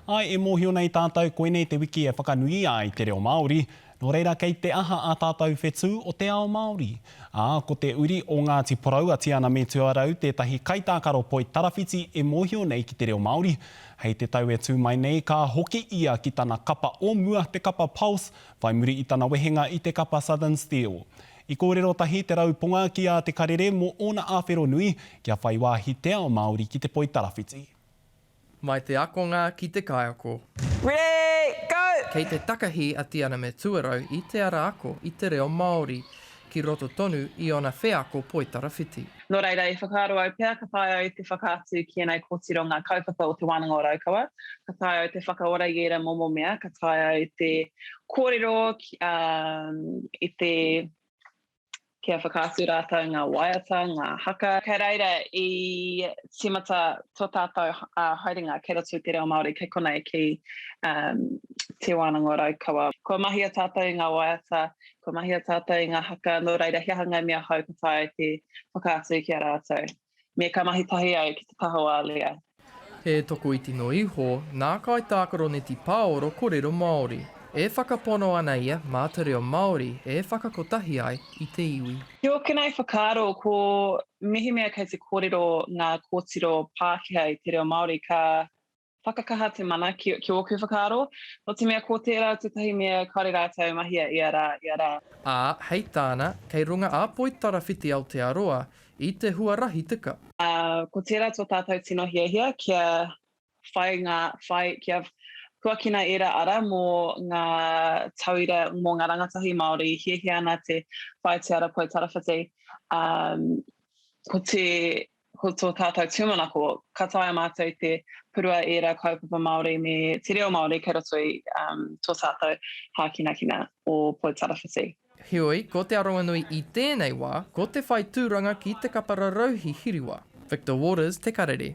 Āe, e mōhio nei tātou koinei te wiki e whakanuia ai te reo Māori, nō reira kei te aha ā tātou whetū o te ao Māori? Ā, ko te uri o Ngāti Porou a Tiana me Tuarau tētahi kaitākaro poi tarawhiti e mōhio nei ki te reo Māori. Hei te tau e tū mai nei, ka hoki ia ki tana kapa o mua, te kapa Pulse, whai muri i tana wehenga i te kapa Southern Steel. I kōrero tahi Te Rauponga ki a Te Karere mō ōna āwhero nui kia whai wāhi te ao Māori ki te poi tarawhiti. Mai te akonga ki te kaiako. Ready, go! Kei te takahi a Tianame Tuarau i te ara ako i te reo Māori, ki roto tonu i ōna wheako poitarawhiti. Nō reira, i whakaaro au pea ka taea au te whakaatu ki ēnei kōtiro ngā kaupapa o Te Wānanga o Raukawa, ka taea au te whakaora i ērā momo mea, ka taea au te kōrero i te. kia whakaatu rātou ngā waiata, ngā haka. Kei reira i tīmata tō tātou haerenga kei roto i te reo Māori, kei konei ki Te Wānanga o Raukawa. Kua mahia tātou i ngā waiata, kua mahia tātou i ngā haka, nō reira he aha ngā mea hou ka taea te whakaatu ki a rātou. Me ka mahi tahi au ki te taha o Alea. He tokoiti no iho nā kaitākaroneti pāoro korero Māori. E whakapono ana ia mā te reo Māori e whakakotahi ai i te iwi. Ki ōkenei whakaaro, ko mehemea kei te kōrero ngā kōtiro Pākehā i te reo Māori, ka Whakakaha te mana ki, ki ōku whakaaro, nō te mea ko tērā tētahi mea kāore rātou e mahia ia rā, ia rā. Ā, hei tāna, kei runga a Poitarawhiti Aotearoa i te huarahi tika. Ā, ko tērā tō tātou tino hiahia kia whai ngā, whai, kia huakina ērā ara mō ngā tauira, mō ngā rangatahi Māori i hiahia ana te whai te ara Poitarawhiti, ā, ko te Ko tō tātou tūmanako, ka taea mātou te purua ērā kaupapa Māori me te reo Māori kei roto i um, tō tātou hākinakina o Poi Tarawhiti. Heoi, ko Te Aronganui i tēnei wā, ko te whai tūranga ki Te Kapararauhi Hiriwa. Victor Waters, Te Karere.